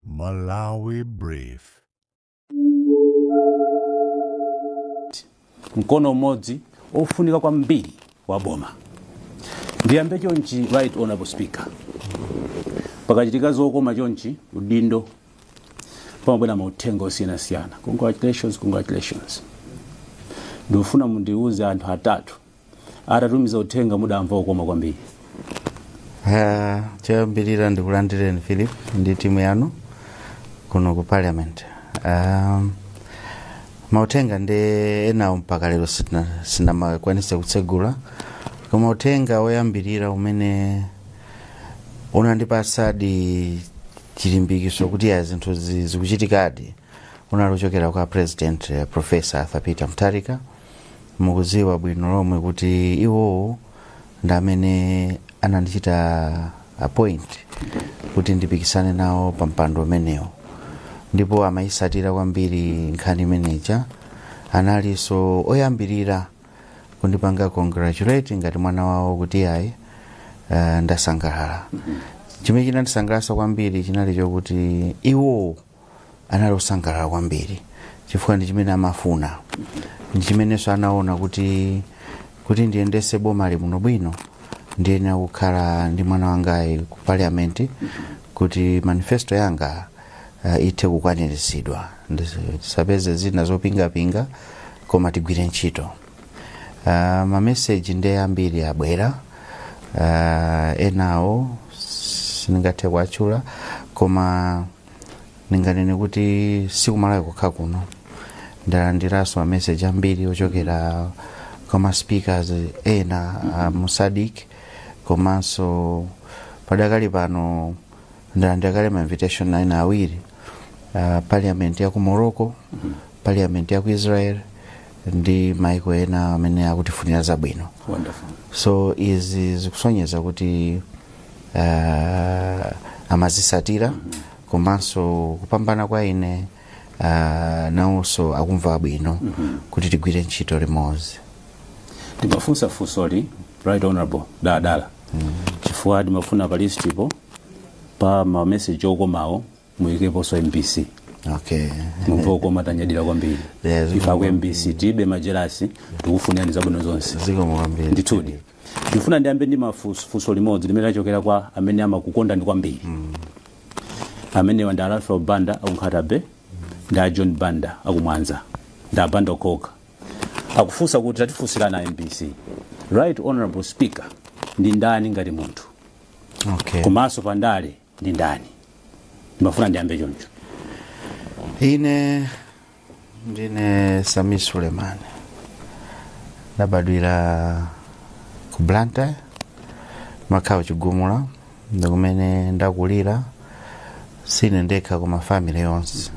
Malawi Brief. mkono umodzi ofunika kwambiri wa boma ndiyambe chonchi right honorable speaker pakachitika zokoma chonchi udindo pamabwera mauthenga osiyanasiyana congratulations congratulations ndikufuna mundiuze anthu atatu atatumiza uthenga mudamva kukoma kwambiri Ah, choyambirira ndikulandireni philip ndi timu yanu kuno ku parliament um, mauthenga ndi enawo mpaka lero sitina- sinnakwanitse kutsegula koma uthenga woyambirira umene unandipatsadi chilimbikitso kuti ya zinthu zi- zikuchitikadi unali kuchokera kwa president eh, professor arthur peter mutharika mukudziwa bwino lomwe kuti iwowo ndi amene anandichita appoint kuti ndipikisane nawo pa mpando umenewo ndipo amayitsatira kwambiri nkhani imeneja analinso oyambirira kundipanga congratulate ngati mwana wawo kuti ayi uh, ndasangalala chimene chinandisangalatsa kwambiri chinali chokuti iwowo anali osangalala kwambiri chifukwa ndi chimene amafuna ndi chimenenso anaona kuti kuti ndiyendese boma lino bwino ndiyenera kukhala ndi mwana wangayi ku parliament kuti manifesto yanga uh, ithe kukwaniritsidwa Ndis- tisapeze zina zopingapinga koma tigwire ntchito uh, mameseji ndi ambiri abwera uh, enawo sindingathe kuwatchula koma ndinganene kuti si ku Malawi kokha kuno ndalandiranso mameseji ambiri ochokera kwa maspeakers ena a mu SADC komanso padakali pano ndalandira kale ma invitation ena awiri uh, parliament ya ku morocco parliament ya ku israel ndi maiko ena amene akutifunira zabwino Wonderful. so izi zikusonyeza kuti uh, amazitsatira komanso kupambana kwa ine uh, nawonso akumva bwino kuti tigwire ntchito limodzi ndimafunsa funsoli right honorable daladala chifukwa ndimafuna pa listipo pa mameseji okomawo muyikeponso mbc okay mumve kukoma tanyadira kwambiri Yeah, ziko- ife aku mbc tilibe majelasi tikufunirani zabwino zonse zikomo kwambiri ndithudi ndifuna ndiyambe ndi mafunso limodzi limene lachokera kwa amene amakukondani kwambiri amenewa ndi a Alfred banda aku Nkhata Bay ndi a john banda akumwanza ndi a banda okhaokha akufunsa kuti tatifunsirani a mbc right honorable speaker ndi ndani ngati munthu okay komanso pandale ndi ndani ndimafuna ndiyambe choncho ine ndine sami suleiman ndabadwira ku blantyre makhawo chigumula ndikumene ndakulira sine ndekha koma family yonse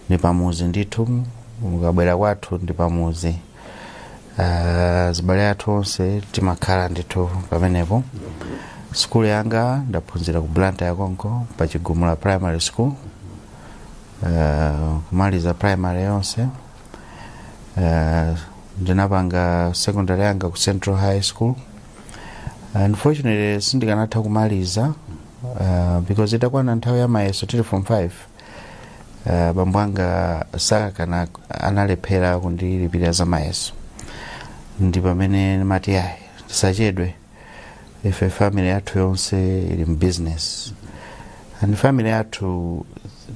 ndi pamuzi ndithu mukabwera kwathu ndi pamuzi azibale athu onse timakhala ndithu pamenepo sukulu yanga ndaphunzira ku blantyre konko pa chigumula primary school Ah, kumaliza primary yonse Ah, ndinapanga secondary yanga ku central high school unfortunately sindikanatha kumaliza uh, because itakwana nthawi ya mayeso tili form 5 uh, bambo anga sakakana analephera kundilipirira za mayeso ndi pamene ndimati ayi tisachedwe ife family yathu yonse ili mu business and family yathu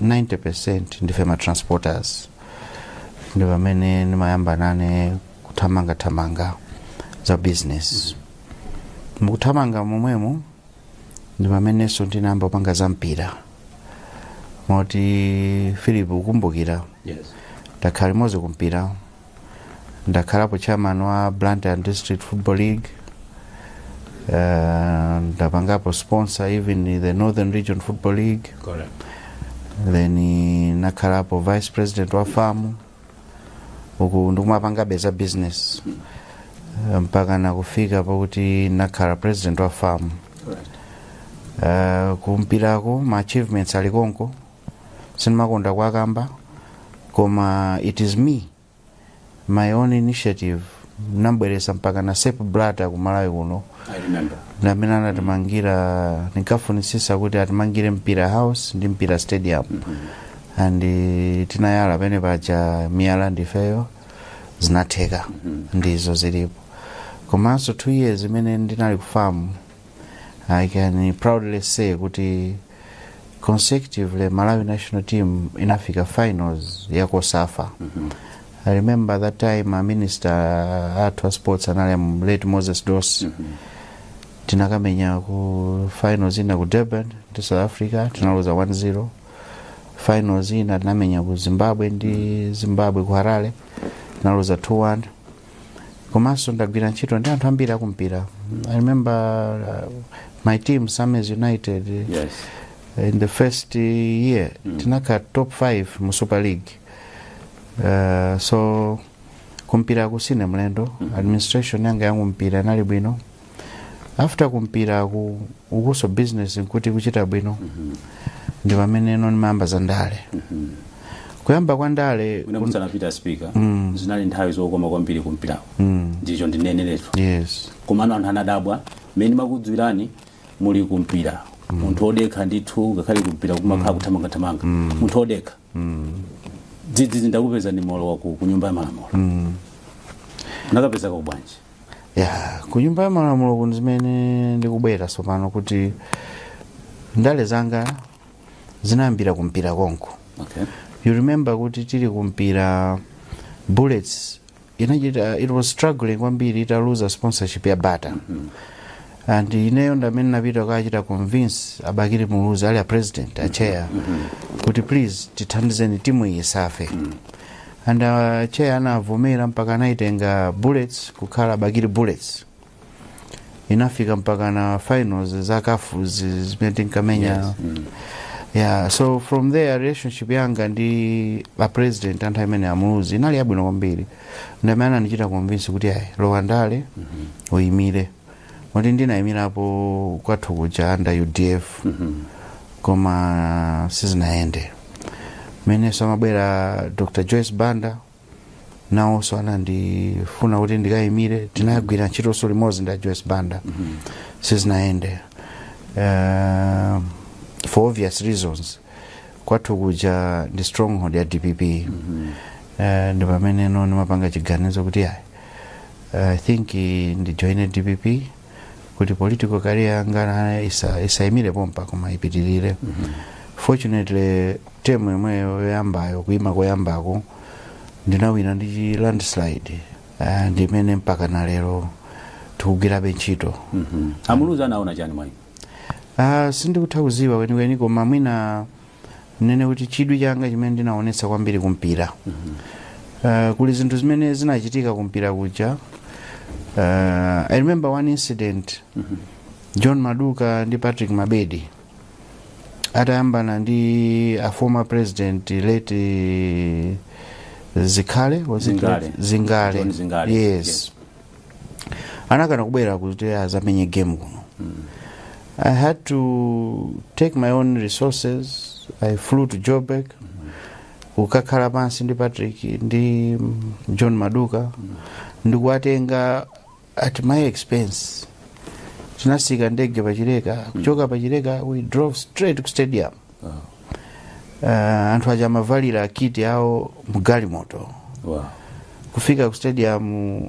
90% ndife ma transporters ndi pamene ndimayamba nane kuthamangathamanga za business mukuthamanga momwemo ndi pamenenso ndinayamba kupanga za mpira moti philip ukumbukira yes ndakhala limodzi kumpira ndakhalapo chairman wa blantyre district football league uh, ndapangapo sponsor even in the northern region football league correct then eh, nakhalapo vice president wa fam uku ndikumapangabe za business Eh, mpaka nakufika pakuti nakhala president wa fam uh, kumpirako ma achievements ali konko sindimakonda kuwakamba koma it is me my own initiative nambweresa mpakana sepp blatter kumalawi kuno ndamene anatimangira ndinkafunisisa kuti atimangire mpira house ndi mpira stadium and eh, tinayala pene paja miyala ndifeyo zinatheka ndizo zilipo komanso two years imene ndinali ku fam i can proudly say kuti consecutively malawi national team inafika finals ya cosafa i remember that time a minister athu a sports anali a late moses dossi tinakamenya ku finals ina ku durban ndi south africa tinaluza 1-0 finals ina tinamenya ku zimbabwe ndi zimbabwe ku harare tinaluza 2-1 komanso ndagwira ntchito ndi anthu ambiri akumpira i remember uh, my team sammy's united yes in the first uh, year mm. tinakhala top 5 mu super league uh, so kumpiraku sine mlendo mm. administration yanga ya kumpira inali bwino after kumpira ku ukunso business nkuti kuchita bwino ndi pamene no ndimayamba za ndale kuyamba kwa ndale mwina musanapita speaker zinali nthawi zokoma kwambiri kumpirako ndicho ndineneretu yes komano anthu anadabwa mmene amakudziwirani muli kumpira munthu odekha ndithu ngakhale kumpira kumakhala kuthamangathamanga munthu odekha dzidzidzi ndakupezani mwalowa ku ku nyumba ya malamulo munakapezekako bwanji ya ku nyumba ya malamulo kuno zimene ndikubwera tsopano kuti ndale zanga zinayambira kumpira konko okay. you remember kuti tili kumpira bullets inachita it was struggling kwambiri ita lose sponsorship ya bata and ineyo ndamene napita kachita convince a bakili muluzi ali a president a chair kuti please tithandizeni timu iyi isafe and a chair anavomera mpaka anayitenga bullets kukhala bakili bullets inafika mpaka na finals za caf zi- zimene tinkamenya Yes. Mm. yeah so from there relationship yanga ndi a president anthu amene amuluzi inali yabwino kwambiri ndamene anandichita convince kuti ayi lowa ndale uyimire kuti ndinayimirapo kwathu kuja under udf koma sizinayende mmenenso amabwera dr joyce banda nawonso anandifuna kuti ndikayimire tinagwira ntchitonso limodzi ndi a joyce banda sizinayende Eh, for obvious reasons kwathu kuja ndi stronghold ya dpp Eh, ndi pamene no ndimapanga chiganizo kuti ayi i think eh, ndijoine dpp kuti political career yanga isa- isaimire pompa koma ipitirire fortunately term yomweyo yoyambayo kuima koyambako ndinawina ndi chi landslide Ah, ndimene mpaka na lero tikugwirabe ntchito amuluzi anaona chani mwa inu Ah, sindikutha kuziwa kwenikweni koma mwina ndinene kuti chidwi changa chimene ndinaonetsa kwambiri kumpira uh, kuli zinthu zimene zinachitika kumpira kuja uh, i remember one incident john maduka ndi patrick mabedi atayambana ndi a former president late zingale was it Zingale. late? zingale John Zingale, yes, yes. anakana kubwera kuti azamenye game kuno i had to take my own resources i flew to joburg kukakhala pansi ndi patrick ndi john maduka ndikuwatenga at my expense tinasika ndege pachileka kuchoka pachileka we drove straight ku stadium uh, anthu aja amavalira kiti awo mgalimoto wow. kufika ku stadium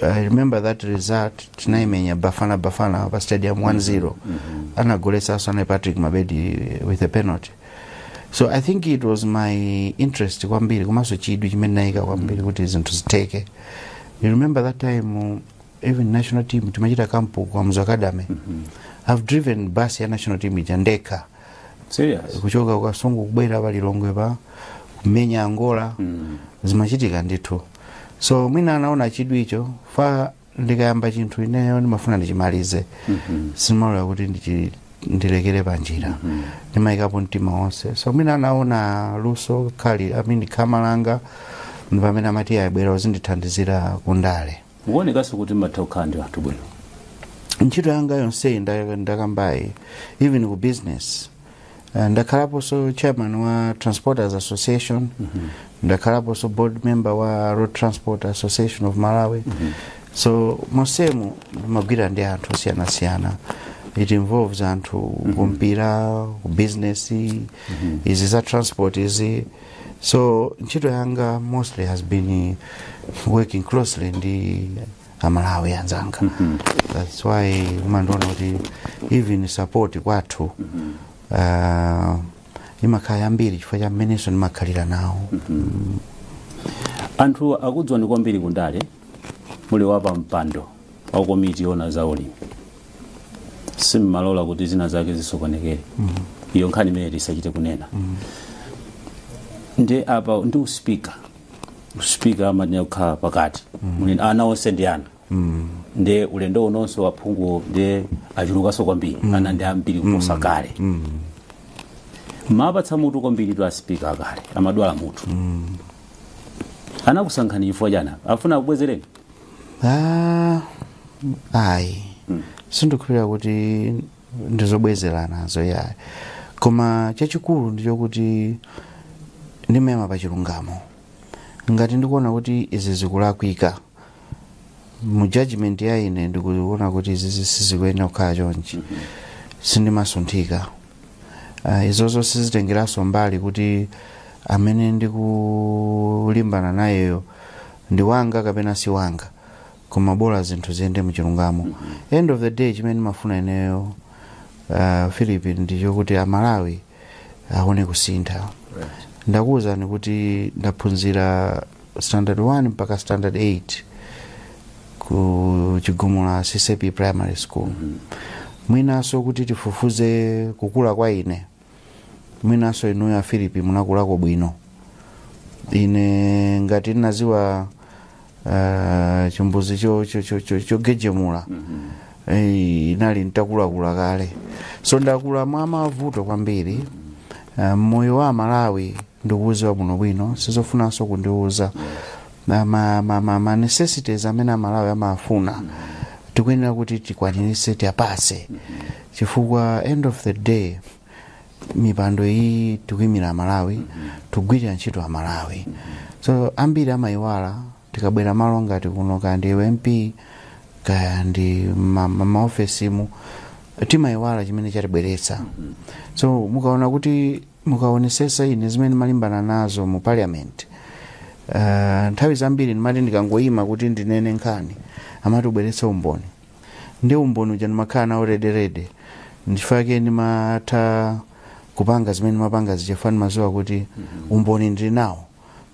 i remember that result tinaimenya bafana bafana pa stadium 1-0 mm -hmm. anagoletsanso anali patrick mabedi with a penalty so i think it was my interest kwambiri komanso chidwi chimene naika kwambiri kuti zinthu zitheke you remember that time even national team timachita kampu kamuzu academy i've driven bus ya national team ija ndekha serious kuchoka kasungu kubwera pa lilongwe pa kumenya angola Mm. zimachitika ndithu so mwina anaona chidwicho chifukwa ndikayamba chinthu ineyo ndimafuna ndichimalize Mhm. simalola kuti ndichi- ndilekere pa njira ndimayikapo mtima wonse so mwina anaona luso kaya i mean khama langa ndi pamene amati ayi bwera uzindithandizira kundale mukuonekanso kuti mmatha kukhala ndi anthu bwino ntchito yanga yonseyi nda- ndakambayi even ku business Eh, ndakhalaponso chairman wa transporters association ndakhalaponso board member wa road transport association of malawi so monsemu ndimagwira ndi anthu osiyanasiyana it involves anthu kumpira ku business izi za transport izi so ntchito yanga mostly has been working closely ndi amalawi anzanga mm -hmm. that's why umandiona kuti even support kwathu mm -hmm. uh, imakhala yambiri chifukwa cha mmenenso ndimakhalira nawo mm -hmm. anthu akudziwani kwambiri kundale muli wapampando wa komiti yona za ulimi simmalola kuti zina zake zisokonekere iyo nkhani imene tisachite kunena ndiye apa ndi uspika uspika amanena kukhala pakati Muli- ana onse ndi ana ndiye ulendo unonso aphungu ndiye achulukanso kwambiri ana ndi ambiri kuposa kale amapatsa mutu kwambiritu aspika akale amadwala mutu anakusankhani chifukwa chani? afuna akubwezereni Ah, ayi sindikhulupirira kuti ndizobwezeranazo yayi koma chachikulu ndichokuti ndimayima pa chilungamo ngati ndikuona kuti izi zikulakwika mu judgment ya ine ndikuona kuti izi sizikuyenera kukhala chonchi sindimasunthika Ah, izozo sizitengeranso mbali kuti amene ndikulimbana nayeyo ndi wanga kapena si wanga koma bola zinthu ziyende muchilungamo end of the day chimene ndimafuna ineyo uh, philip ndichokuti amalawi aone kusintha ndakuwuzani kuti ndaphunzira standard 1 mpaka standard 8 ku chigumula CCP primary school mwinanso kuti tifufuze kukula kwa ine mwinanso inuyo a Philip munakulako bwino ine ngati ndinaziwa uh, chimbuzi cho- cho- cho- cho- chogejemula eh, inali ntakulakula kale so ndakula mwa mavuto kwambiri uh, moyo wa malawi ndikuuziwa bwino bwino sizofunanso kundiuza ma, ma, ma, ma, ma necessities amene amalawi amafuna tikuyenera kuti tikwanirise tiwapase chifukwa end of the day mipando iyi tikuyimira amalawi tigwirira ntchito amalawi so ambiri amayiwala tikabwera malo ngati kuno kaya ndi MP kaya ndi ma- ma- maofesimu timayiwala chimene chatibweretsa so mukaona kuti mukaonesesa ine zimene ndimalimbana nazo mu parliament uh, nthawi zambiri ndimati ndikangoyima kuti ndinene nkhani amati ubweretse umboni ndiye umboni uja ndimakhala nawo ready ready ndichifukwa chake ndimatha kupanga zimene ndimapanga zija chifukwa ndimaziwa kuti umboni ndili nawo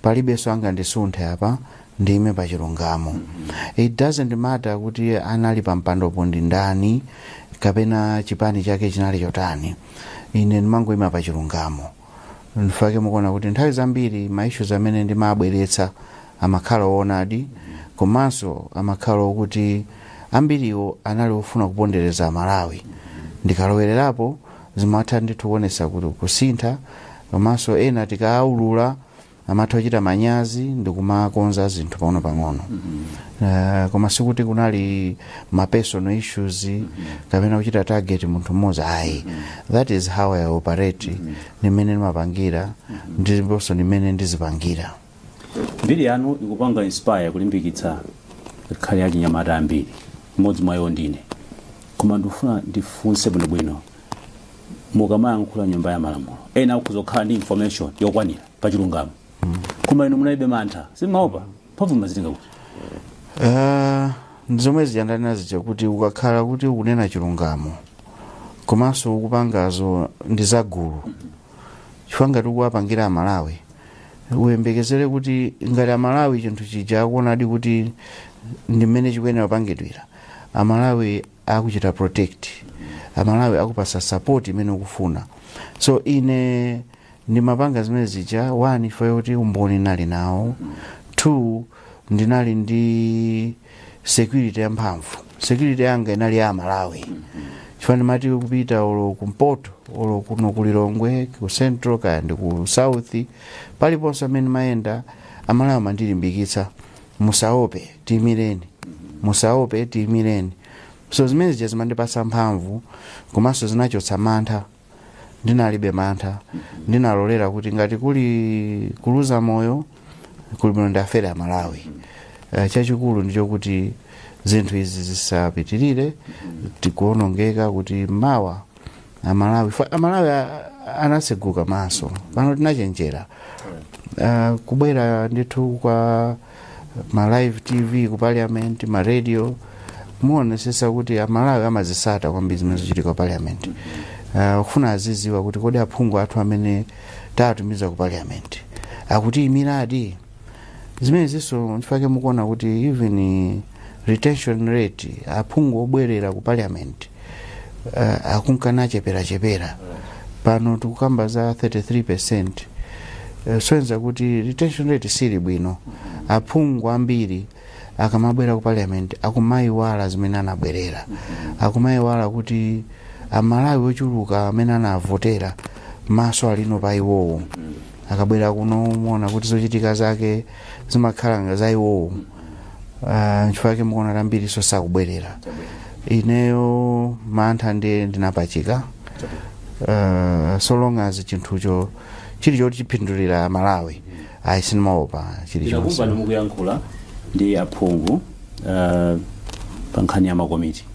palibenso angandisunthe apa ndiime pa chilungamo it doesn't matter kuti anali pa mpandopo ndi ndani kapena chipani chake chinali chotani ine ndimangoima pa chilungamo nchifukwa chake mukuona kuti nthawi zambiri ma issues amene ndimabweretsa amakhala oonadi komanso amakhala okuti ambiriwo anali ofuna kupondereza amalawi ndikalowererapo zimatha ndithu kuonesa kusintha komanso ena tikaawulula amatha kuchita manyazi ndikumakonza zinthu pang'ono pang'ono uh, koma sikuti kunali ma personal issues kapena kuchita target munthu mmodzi ayi that is how i operate ndi mmene ndimapangira ndiponso ndi mmene ndizipangira Mbiri yanu ikupanga inspire kulimbikitsa ngakhale achinyamata ambiri. Mmodzi mwa iwo ndine. Koma ndikufuna ndifunse bwinobwino mukamayankhula m'nyumba ya malamulo ena akhoza kukhala ndi information yokwanira pa chilungamo koma inu munalibe mantha simumaopa mphamvu mumazitenga kuti Ah, ndi zomwe zija ndinanena zija kuti ukakhala kuti ukunena chilungamo komanso ukupangazo ndi zagulu chifukwa ngati ukuwapangira amalawi uyembekezere kuti ngati amalawi chinthu chija akuonadi kuti ndi mmene chikuyenera kupangidwira amalawi akuchita protect amalawi akupasa support imene ukufuna so ine ndimapanga zimene zija one chifukwa choti umboni ndinali nawo two ndinali ndi security ya mphamvu security yanga inali ya amalawi chifukwa ndimati kupita olo kumpoto olo kuno ku lilongwe ku central kaya ndi ku south paliponse amene mayenda amalawi amandilimbikitsa musaope tiimireni musaope tiimireni so zimene zija zimandipasa mphamvu komanso zinachotsa mantha ndinalibe mantha ndinalolera kuti ngati kuli kuluza moyo kuli bwino ndiafere amalawi Eh, chachikulu ndicho kuti zinthu izi zisapitirire tikuonongeka kuti mawa amalawi fa- amalawi a- anaseguka maso pano tinachenjera uh, kubwera ndithu kwa ma live tv ku parliament ma radio muonesesa kuti amalawi amazisata kwambiri zimene zikuchitika ku parliament uh, ufuna aziziwa kuti kodi aphungu athu amene tawatumiza ku parliament akutiyimiradi zimenezinso nchifukwa chake mukuona kuti even retention rate aphungu obwerera ku parliament uh, akunka nacheperachepera pano tikukamba za 33 percent uh, zosonyeza kuti retention rate sili bwino aphungu ambiri akamabwera ku parliament akumayiwala zimene anabwerera akumayiwala kuti amalawi ochuluka amene anavotera maso ali pa iwowo akabwera kuno muona kuti zochitika zake zimakhala nga za iwowo Ah, nchifukwa chake mukuona kuti ambiriso sakubwerera ineyo mantha ndiye ndinapachika Ah, so long as chinthucho chili choti chipindulira amalawi ayi sindimaopa chili chonse tinakumva mukuyankhula ndi aphungu uh, pa nkhani ya makomiti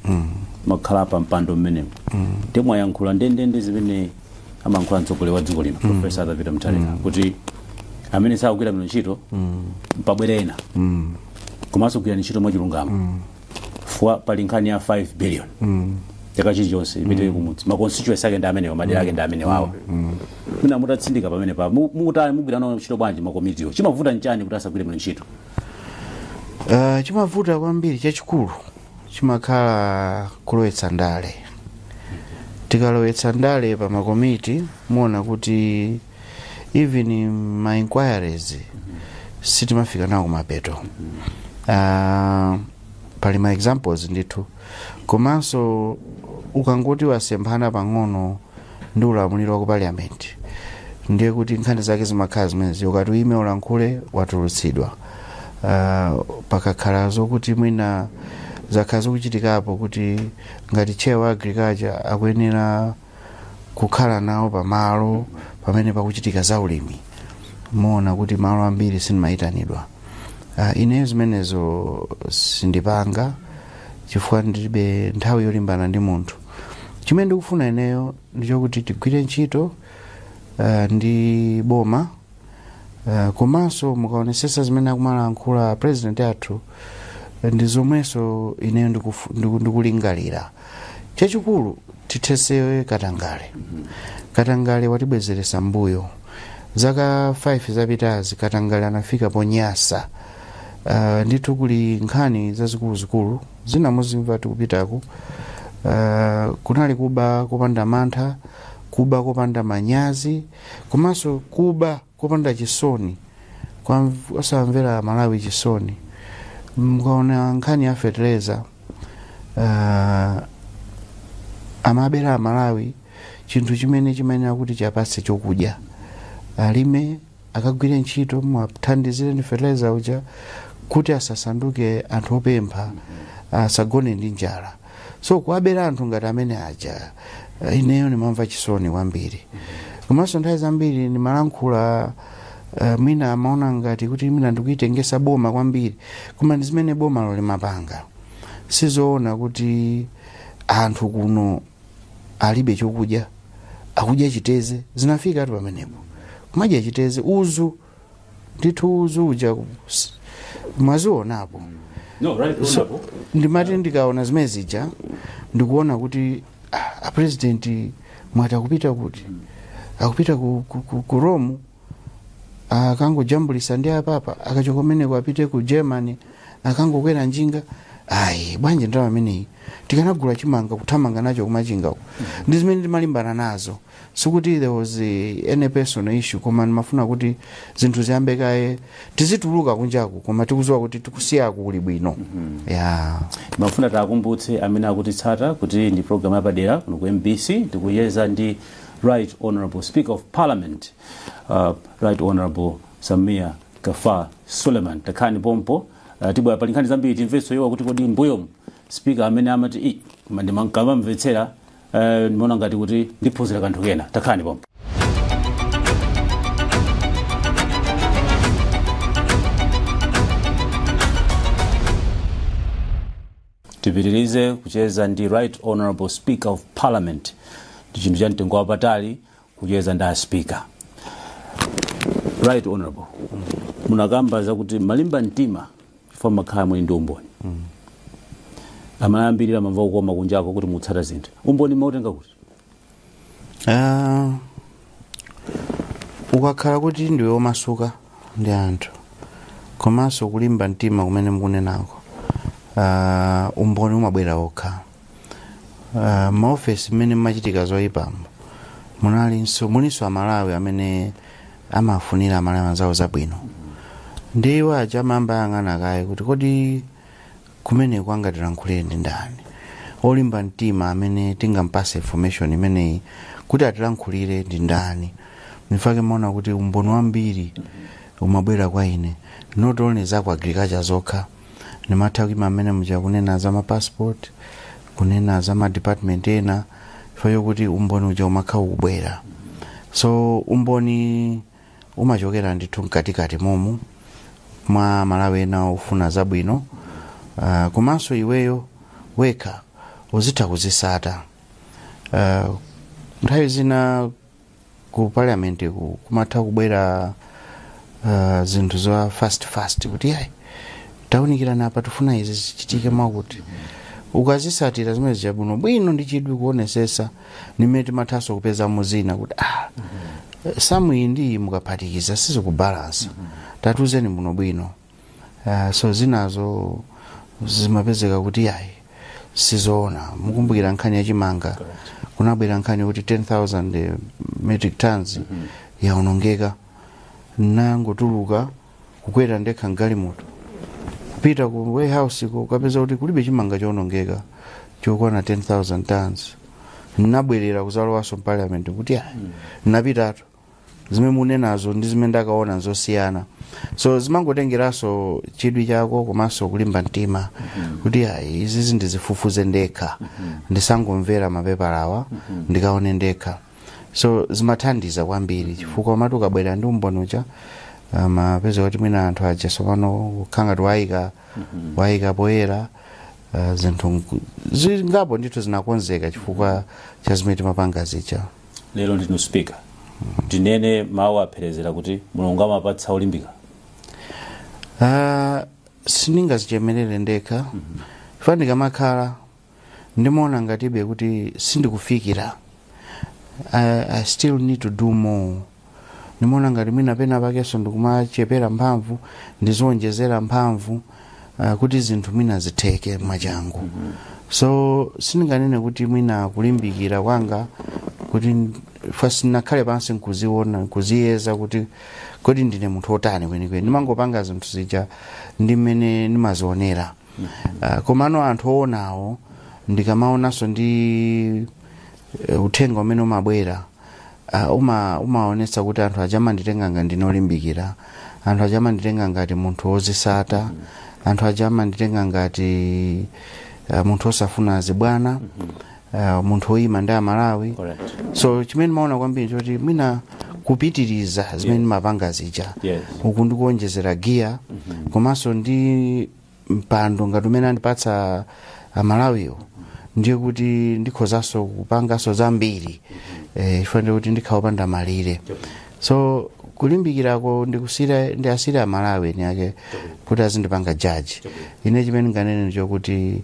atakhala pa mpando mmenemo ndimwayankhula ndendende zimene amankhula mtsogoleri wa dziko lino mm. profesa Arthur Peter Mutharika mm. kuti amene sakugwira bwino ntchito mm. pabwere ena mm. komanso kugwira ntchito mwachilungamo mm. fwa pali nkhani ya 5 billion mm. chaka chilichonse ipite mm. kumudzi ma constituency ake ndi amenewa madera ake ndi mm. amenewawa mm. mwina mutatsindika pamenepa mutani mugwira nawo ntchito bwanji makomitiwo chimavuta nchani kuti asagwire bwino ntchito uh, chimavuta kwambiri chachikulu chimakhala kulowetsa ndale tikalowetsa ndale pa makomiti muona kuti even ma inquiries sitimafika nawo kumapeto uh, pali ma examples ndithu komanso ukangoti wasemphana pang'ono ndi ulamuliro wa ku parliament ndiye kuti nkhani zake zimakhala zimenezi ukati uyime ulankhule watulutsidwa uh, pakakhala zokuti mwina zakhala zikuchitikapo kuti ngati chair wa agriculture akuyenera kukhala nawo pamalo pamene pakuchitika za ulimi muona kuti malo ambiri sindimayitanidwa uh, ineyo zimenezo sindipanga chifukwa ndilibe nthawi yolimbana ndi munthu chimene ndikufuna ineyo ndichokuti tigwire ntchito uh, ndi boma uh, komanso mukaonesesa zimene akumalankhula president athu ndi zomwenso ineyo ndikufu- ndiku- ndikulingalira chachikulu tithesewe katangale katangale watibwezeresa mbuyo zaka 5 zapitazi katangale anafika ponyasa uh, ndithu kuli nkhani zazikuluzikulu zina muzimva tikupitaku uh, kunali kuba kopanda mantha kuba kopanda manyazi komanso kuba kopanda chisoni kosawamvera amalawi chisoni mkaona nkhani ya fetereza uh, amabera amalawi chinthu chimene chimayenera kuti chiwapatse chokudya alime akagwire ntchito mwathandizire ndi fertilizer uja kuti asasanduke anthu opempha asagone ndi njala so kuwabera anthu ngati amene aja eh, ineyo ndimamva chisoni kwambiri komanso nthawi zambiri ndimalankhula eh, mwina amaona ngati kuti mwina ndikuitengesa boma kwambiri koma ndi zimene bomalo limapanga sizoona kuti anthu kuno alibe chokudya akudya chiteze zinafikatu pamenepo kumadya chiteze uzu ndithu uzu uja s- mwazionapo No, right, So, honorable. ndimati ndikaona zimene zija ndikuona kuti ah, apresidenti mwati akupita kuti akupita ku, ku, ku, ku rome akangojambulisa ndi apapa akachoka kumeneko apite ku germany akangokwera njinga ayi bwanji ndalama imeneyi tikanagula chimanga kuthamanga nacho kumachinga uko ndi zimene ndimalimbana nazo sikuti there was eh, any personal issue koma ndimafuna kuti zinthu ziyambe kaye tizituluka kunjaku koma tikuziwa kuti tikusiyako kuli bwino ya timafuna tiwakumbutse amene akutitsata kuti ndi programu yapadera kuno ku mbc tikucheza ndi right honorable speaker of parliament uh, right honorable sameer gaffar suleman takhalani pompo uh, tibwera pali nkhani zambiri timvenso iwo kuti kodi mbuyomu speaker amene amati "Ii, koma ndimankamamvetsera uh, ndimaona ngati kuti ndiphunzira kanthu kena takhalani pompo tipitirize kucheza ndi right honorable speaker of parliament ndi chinthu cha mtengo wapatali kucheza ndi aspika right honorable munakamba zakuti mumalimba mtima chifukwa mumakhala muli ndi umboni amayambirira mamva kukoma kunjako kuti mutsata zinthu umboni mautenga kuti Ah, ukakhala kuti ndiwe omasuka ndi anthu komanso kulimba mtima kumene mukunenako ah, umboni umabwera okha Ah, maofesi mmene mumachitika zoyipamo munalinso mulinso amalawi amene amafunira amalawi anzawo zabwino ndi iwo aja amayamba ayang'ana kaye kuti kodi Kumeneko angatilankhulire ndi ndani? Olimba mtima amene tingampase information imeneyi kuti atilankhulire ndi ndani? Nchifukwa chake mumaona kuti umboni wambiri umabwera kwa ine not only za ku agriculture zokha nimatha kuima mmene muja kunena za ma passport kunena za ma department ena chifukwa chokuti umboni uja umakha ukubwera so umboni umachokera ndithu mkatikati momu mwa malawi ena ofuna zabwino uh, komanso iweyo wekha uzitha kuzisata uh, nthawi zina ku parliament kumatha kubwera uh, zinthu za fast fast kuti yayi taunikirana apa tifuna izi zichitike mwakuti ukazisatira zimene zichabwino bwino ndi chidwi kuonesesa ndi mmene timathanso kupezamo zina kuti ah, samu iyi ndi iyi mukaphatikiza sizikubalansa tatiuzeni bwinobwino Ah, so zinazo zimapezeka kuti ayi sizoona mukumbukira nkhani ya chimanga kunabwera nkhani kuti 10000 metric tons yaonongeka nnangotuluka kukwera ndekha mgalimoto kupita ku warehouse kukapeza kuti kulibe chimanga chowonongeka chokwana 10000 tons nnabwerera kudzalowanso mparliament kuti ayi nnapitatu zimene mukunenazo ndi zimene ndakaona nzosiyana so zimangotengeranso chidwi chako komanso kulimba mtima kuti ayi izizi ndizifufuze ndekha ndisangomvera mapepalawa ndikaone ndekha so zimathandiza kwambiri chifukwa umati ukabwera ndi umboni uja umapeza kuti mwina anthu aja sopano kukhala ngati wawayika poyera ah, zinthu nku- zingapo ndithu zinakonzeka chifukwa cha zimene timapanga zija lero ndinu speaker ndinene mawu ophiphiritsa kuti mulungu amapatsa olimbika Ah, sindingazichemerere ndekha chifukwa ndikamakhala ndimaona ngatibe kuti sindikufikira I, i still need to do more ndimaona ngati mwina penapakenso ndikumachepera mphamvu ndizionjezera mphamvu uh, kuti zinthu mwina zitheke mwachangu so sindinganene kuti mwina kulimbikira kwanga kuti first nakhale pansi nkuziona nkuziyeza kuti kodi ndine munthu otani kwenikweni ndimangopanga zinthu zija ndi mmene ndimazionera Ah, komano anthu owonawo ndikamaonanso ndi eh, uthenga umene umabwera ah, uma umaonetsa kuti anthu aja amanditenga ngati ndine olimbikira anthu aja amanditenga ngati munthu wozisata anthu aja amanditenga ngati ah, munthu osafuna zibwana uh, munthu woyima ndi amalawi Correct. so chimene ndimaona kwambiri choti mwina kupitiriza zimene ndimapanga zija Yes. uku ndikuonjezera giya komanso ndi mpando ngati umene andipatsa amalawiwo ndiye kuti ndikhozanso kupanganso zambiri eh, chifukwa ndiye kuti ndikhala opanda malire so kulimbikirako ndikusiyira ndiwasiyire amalawi eni ake kuti azindipanga jaji ine chimene ndinganene ndichokuti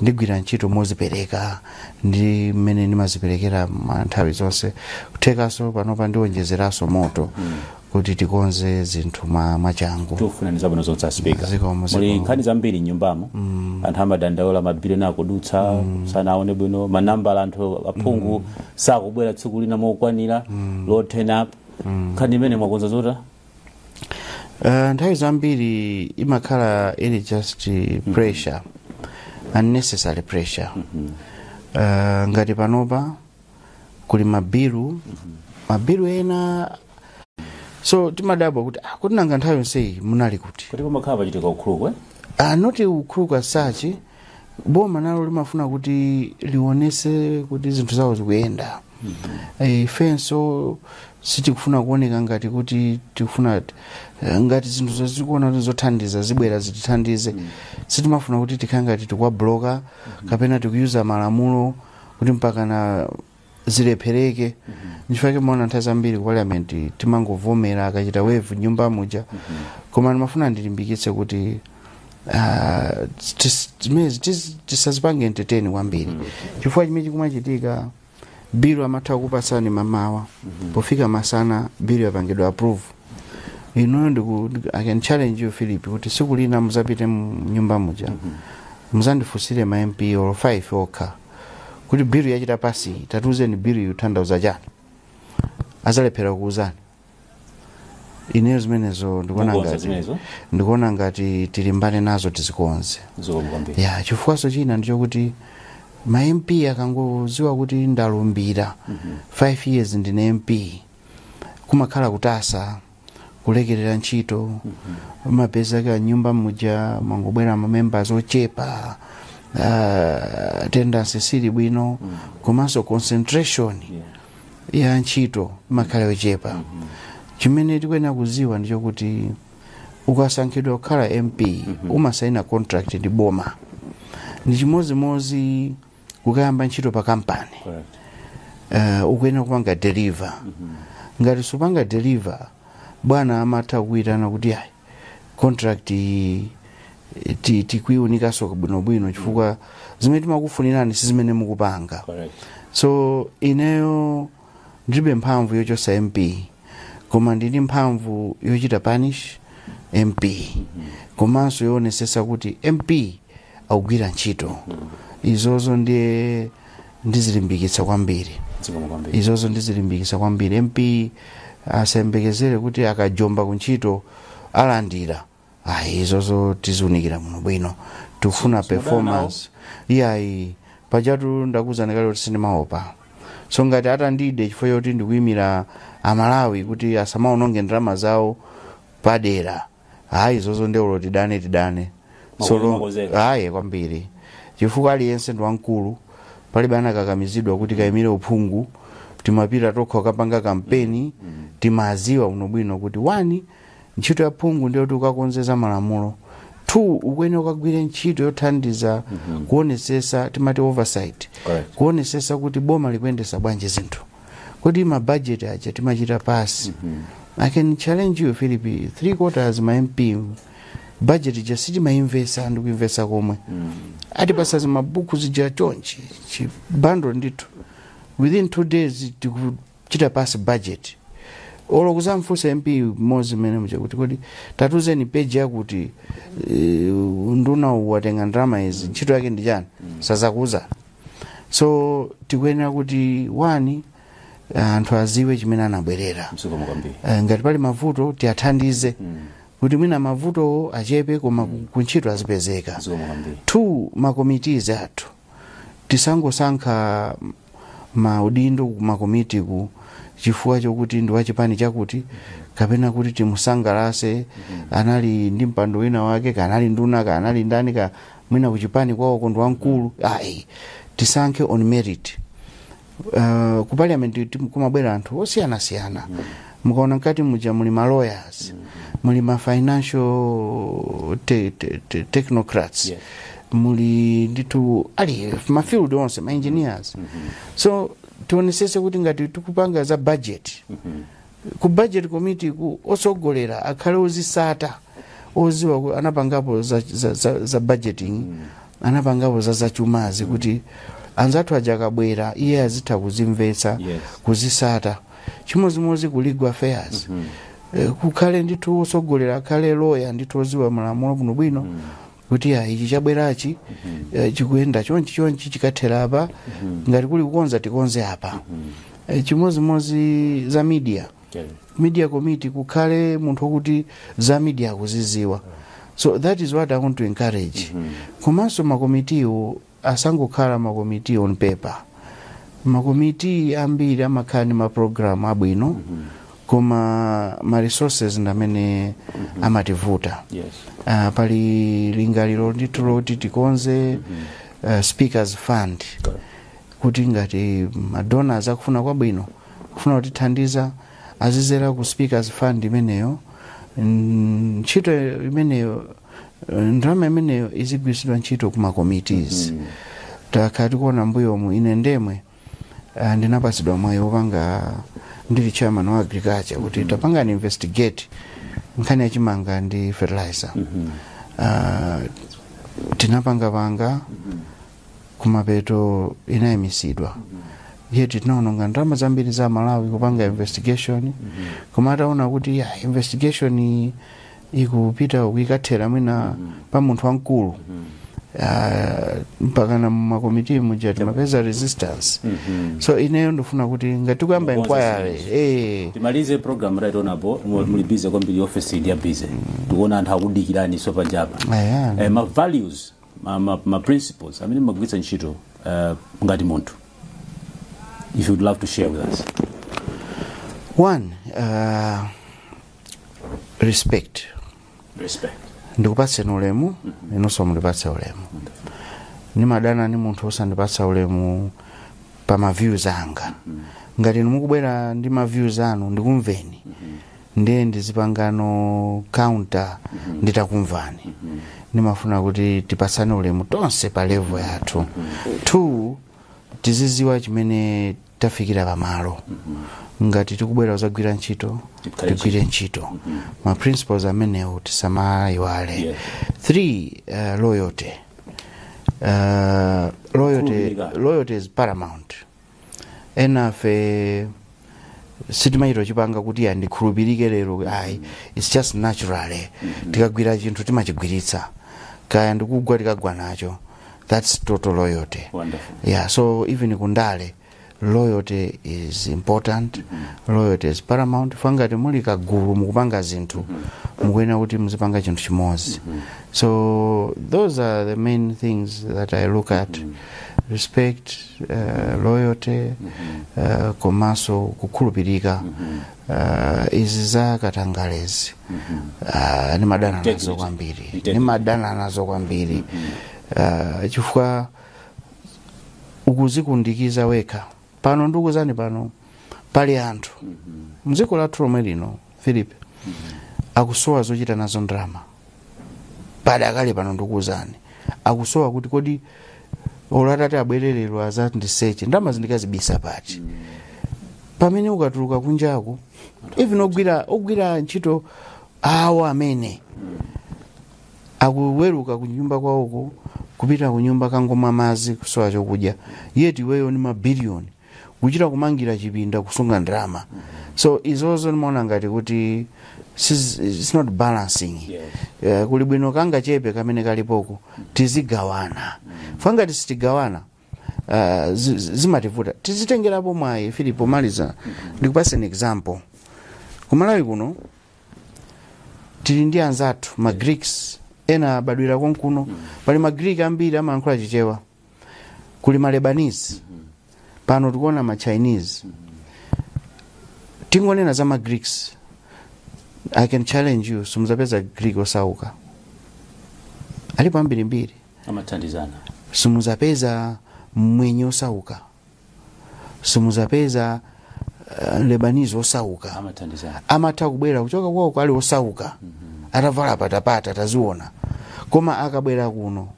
ndigwira ntchito mozipereka ndi mmene ndimaziperekera ma nthawi zonse kuthekanso panopa ndiwonjezeranso moto kuti tikonze zinthu mwa- mwachangu tikufunirani zabwino zonse asipika Zikomo, zikomo. muli nkhani zambiri mnyumbamo anthu amadandaula mabilioni akudutsa sanaone bwino manambala anthu aphungu sakubwera tsiku lina mokwanira low turn up nkhani imene mwakonza zotani Uh, nthawi zambiri imakhala ili just uh, pressure unnecessary pressure uh, ngati panopa kuli mabilu mabilu ena so timadabwa kuti ah, kuti nanga nthawi yonseyi munali kuti kuti pamakhala pachitika ukuluku eh not ukuluku as such boma nalo limafuna kuti lionese kuti zinthu zawo zikuyenda Eh, ifenso sitikufuna kuoneka ngati kuti tikufuna eh, ngati zinthu tikuona kuti zothandiza zibwera zitithandize sitimafuna kuti tikhale ngati tikuwabloka kapena tikuyuza malamulo kuti mpakana zilephereke nchifukwa chake mumaona nthawi zambiri ku parliament timangovomera akachita waive nyumba muja koma ndimafuna ndilimbikitse kuti ah, tis- zimenezi tis- tisazipange entertain kwambiri chifukwa chimene chikumachitika bilu amatha kupatsani mamawa pofika masana bilu yapangidwa approve inuyo ndiku ndiku- i can challenge you philip kuti siku lina muzapite mu nyumba muja muzandifunsire ma mp olo 5 okha kuti bill yachita pasi tatiuzeni bill ikutanthauza chani azalephera kuuzani ineyo zimenezo ndikuona Mukonza zimenezo? ndikuona ngati tilimbane nazo tizikonze zikomo kwambiri ya chifukwaso china ndichokuti ma mp akangoziwa kuti ndalumbira 5 years ndine mp kumakhala kutaya kulekerera ntchito umapeza mu nyumba muja mwangobwera ma members ochepa uh, attendance sili bwino komanso concentration ya ntchito imakhala yochepa chimene tikuyenera kuziwa ndichokuti ukasankhidwa kukhala mp umasaina contract ndi boma ndi chimodzimodzi kukayamba ntchito pa kampani uh, ukuyenera kupanga deliver ngati supanga deliver bwana amatha kukuitana kuti ayi contract iyi ti- tikuiunikanso bwinobwino chifukwa zimene timakufunirani si zimene mukupanga Correct. so ineyo ndilibe mphamvu yochosa mp koma ndili ndi mphamvu yochita punish mp komanso yowonesesa kuti mp akugwira ntchito izozo ndiye ndizilimbikitsa kwambiri zikomo kwambiri izozo ndizilimbikitsa kwambiri mp asayembekezere kuti akajomba ku ntchito alandira ayi izozo tiziunikira bwinobwino tikufuna Simudana performance iyayi pajatu ndakuzani kale kuti sindimaopa so ngati atandide chifukwa choti ndikuyimira amalawi kuti asamaononge ndalama zawo padera ayi izozo nde olo tidane tidane Mwakonzeka Solo- mwakonzeka. ayi kwambiri chifukwa aliyense ndi wamkulu palibe anakakamizidwa kuti akayimire uphungu timapita tokha kukapanga kampeni timaziwa bwinobwino kuti one ntchito ya phungu ndiyoti ukakonze za malamulo two ukuyenera ukagwire ntchito yothandiza kuonesesa timati oversight Correct. kuonesesa kuti boma likuyendesa bwanji zinthu kodi ma budget aja timachita pass i can challenge you philip three quarters ma mp budget ija sitimayimvesa ndi kuyimvesa komwe atipasa zimabuku zija chonchi chibando ndithu within two days tiku- chita pass budget olo kuzamfunsa mp mmodzi mmene muja kuti kodi tatuzeni peji yakuti eh, unduna uwu watenga ndalama izi ntchito yake ndi chani sazakuuza so tikuyenera kuti one anthu aziwe chimene anabwerera zikomo kwambiri Eh, ngati pali mavuto tiyathandize kuti mwina mavutowo achepe koma ku- kuntchito azipezeka zikomo kwambiri two ma committees athu tisangosankha maudindo kumakomiti ku chifukwa chokuti ndi wachipani chakuti kapena kuti timusangalase anali ndi mpando wina wake kanali nduna kanali ndani kaya mwina kuchipani kwawoko ndi wamkulu ayi tisankhe on merit uh, ku parliament ti- kumabwera anthu osiyanasiyana mukaona mkati muja muli ma lawyers muli ma financial te, te, te, technocrats Yes. muli ndithu ali ma field onse ma engineers so tionesese kuti ngati tikupanga za budget ku budget committee ku otsogolera akhale ozisata oziwa ku- anapangapo za, za, za, za budgeting anapangapo za zachumazi kuti anzathu aja akabwera iye azitha kuzimvetsa Yes. kuzisata chimodzimodzi ku legal affairs Eh, kukhale ndithu otsogolera akhale loya ndithu oziwa malamulo bwinobwino kuti ya ichi chabwerachi eh, chikuyenda chonchi chonchi chikathera apa ngati kuli kukonza tikonze apa Eh, chimodzimodzi za media Yes. media committee kukhale munthu wokuti za media akuziziwa so that is what i want to encourage komanso makomitiwo asangokhala ma committee on paper ma committee ambiri amakhala ndi ma program abwino koma ma resources ndamene amativuta yes uh, pali lingaliro ndithu loti tikonze uh, speakers fund kuti ngati madonors akufuna kwabwino kufuna kutithandiza azizera ku speakers fund imeneyo Mm, ntchito imeneyo Eh, ndalama imeneyo izigwiritsidwa ntchito ku ma committees mm. takhala tikuona mbuyomu ine ndemwe uh, ndinapatsidwa mwayi wopanga ndili chairman wa agriculture kuti mm -hmm. tapangani investigate nkhani ya chimanga ndi fertilizer mm -hmm. uh, tinapangapanga mm -hmm. kumapeto inayimisidwa mm -hmm. yet tinaononga ndalama zambiri za aMalawi kupanga investigation mm -hmm. koma ataona kuti ya investigation ikupita uku ikathera mwina pa munthu wamkulu Ah, mpakana mumakomiti muja timapeza resistance so ineyo ndifuna kuti ngati tikuyamba inquiry eh, timalize program right on apo mu- muli busy kwambiri office ndi ya busy tikuona anthu akudikirani so panjapa Aya. eh, ma values ma, ma, ma principles amene mumagwiritsa ntchito eh, ngati munthu if you'd love to share with us one uh, respect ndikupatseni ulemu inonso mundipatse ulemu ndimadana ndi munthu osandipatsa ulemu pa maviews anga ngati inu mukubwera ndi maviews anu ndikumveni ndiye ndizipangano counter nditakumvani ndimafuna kuti tipatsane ulemu tonse pa level yathu two tiziziwa chimene tafikira pamalo ngati tikubwera kuzagwira ntchito tigwire ntchito ma principles amenewo tisamaiwale Yeah. three loyalty loyalty is paramount enafe sitimachita kupanga kuti andikhulupirike lero ayi its just natural tikagwira chinthu timachigwiritsa kaya ndikugwa tikagwa nacho that's total loyalty Wonderful. yeah so even kundale loyalty is important loyalty is paramount funa ngati muli kagulu mukupanga zinthu mukuyenera kuti muzipanga chinthu chimodzi so those are the main things that i look at respect uh, loyalty uh, komanso kukhulupirika Ah, izi za katangalezi ah, ndimadana nazo kwambiri ndimadana nazo kwambiri Ah, chifukwa ukuzikundikiza wekha pano ndikuzani pano pali anthu mdziko lathu lomwe lino philip akusowa zochita nazo ndalama padakali pano ndikuwuzani akusowa kuti kodi olo atati abwerereno azati ndiseche ndalama zindikazibisa pati pamene ukatuluka kunjaku even ogwira ntchito awo amene akuweruka kunyumba kwawoko kupita kunyumba kangomwa madzi kusowa chokudya yeti iweyo ni mabiliyoni kuchita kumangira chipinda kusunga ndalama so izozo ndimaona ngati kuti siz- it's not balancing Eh, kuli bwino kangachepe kamene kalipoko tizigawana funa ngati sitigawana ah, zi- zi- zimativuta tizitengerako mwayi philip pomaliza ndikupasa an example kumalawi kuno tili ndi anzathu ma greeks ena abadwira konkuno pali ma greek ambiri amalankhula chichewa kuli malebanese pano tikuona ma chinese tingonena za ma greeks i can challenge you simuzapeza greek osauka alipo ambirimbiri amathandizana simuzapeza mwenye osauka simuzapeza uh, Lebanese osauka amathandizana amatha kubwera kuchoka kwawo kwali osauka atavala patapata taziona koma akabwera kuno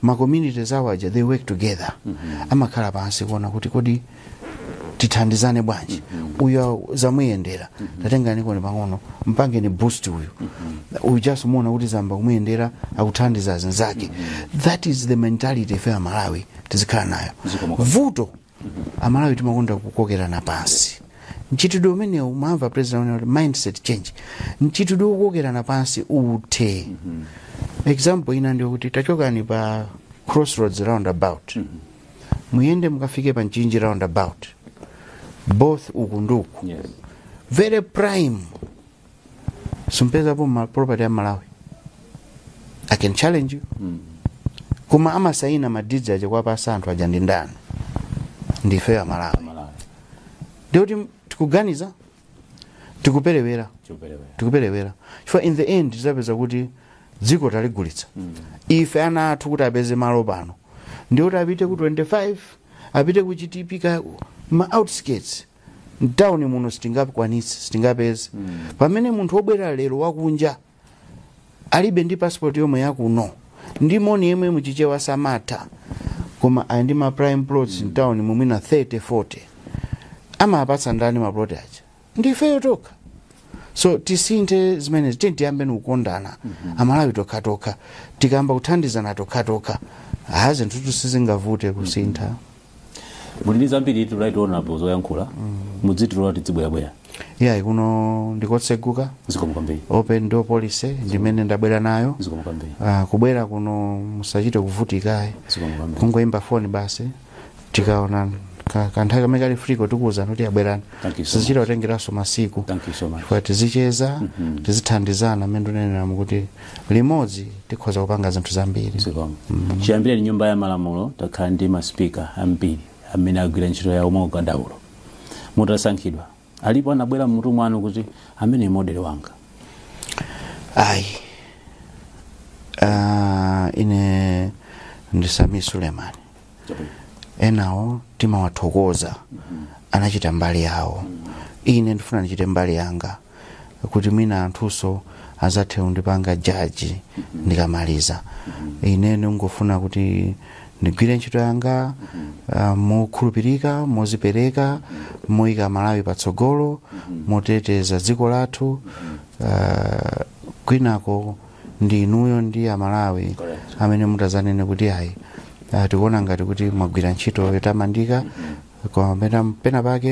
ma communities awo aja they work together amakhala pansi kuona kuti kodi tithandizane bwanji uyu zamuyendera tatengani koin pang'ono mpangeni boost uyu uyu just muona kuti zayamba kumuyendera akuthandiza zinzake that is the mentality ife amalawi tizikhala nayo Zikomo kwambiri. vuto amalawi timakonda kukokerana pansi mchitidwe umenewu mwamva president unena kuti mindset change mchitidwe wokokerana pansi uthe example ina ndi yokuti tachokani pa crossroads roundabout muyende mukafike pa mchinji roundabout both uku ndi uku yes very prime simupezapo property ya malawi i can challenge you koma amasayina ma deeds aja kuwapasa anthu aja ndi ndani ndife amalawi ndiye kuti tikuganiza tikuperewera chopelewera tikuperewera chifukwa in the end tizapeza kuti dziko taligulitsa ife ana athu kuti apeze malo pano ndikuti apite ku 25 apite ku chitipika ma outskirts mtauni muno sitingakwanitse sitingapeze pamene munthu wobwera lero wakunja alibe ndi passport yomwe yakuno ndi moni yemwe muchichewa samatha koma ali ndi ma prime plots mm. mtauni mu mwina 30 40 amapatsa ndani maplot aja ndifeyo tokha so tisinthe zimenezi tiye tiyambe nikukondana amalawi tokhatokha tikayamba kuthandizana tokhatokha ha zinthutu sizingavute kusintha muli ndi zambiritu right honorable zoyankhula mudzitilola tidzibwerabwera iyayi kuno ndikotseguka zikomo kwambiri open door policy ndi imene ndabwera nayo zikomo kwambiri Ah, kubwera kuno musachite kuvutikayi zikomo kwambiri kungoyimba foni basi tikaona ka- kanthawi kamene kali free ko tikuwuzani kuti ah bwerani Thank you so sizichita kutengeranso masiku thank you so much chifukwa tizicheza tizithandizana mmene ndineneramu kuti limodzi tikhoza kupanga zinthu zambiri zikomo chiyambireni nyumba ya malamulo takhala ndi ma speaker ambiri amene agwira ntchito yawo mwaukadaulo mutasankhidwa alipo anabwera mmutu mwanu kuti amene model wanga ayi Ah, ine ndi sameer suleman enawo timawathokoza anachita mbali yawo ine ndifuna ndichite mbali yanga kuti mwina anthunso azathe kundipanga jaji ndikamaliza ine ndingofuna kuti ndigwire ntchito yanga uh, mokhulupirika mozipereka moyika Malawi patsogolo moteteza dziko lathu uh, kwinako ndi inuyo ndi aMalawi Correct. amene mutazanene kuti ayi uh, tikuona ngati kuti mwagwira ntchito yotamandika koma pena- pena pake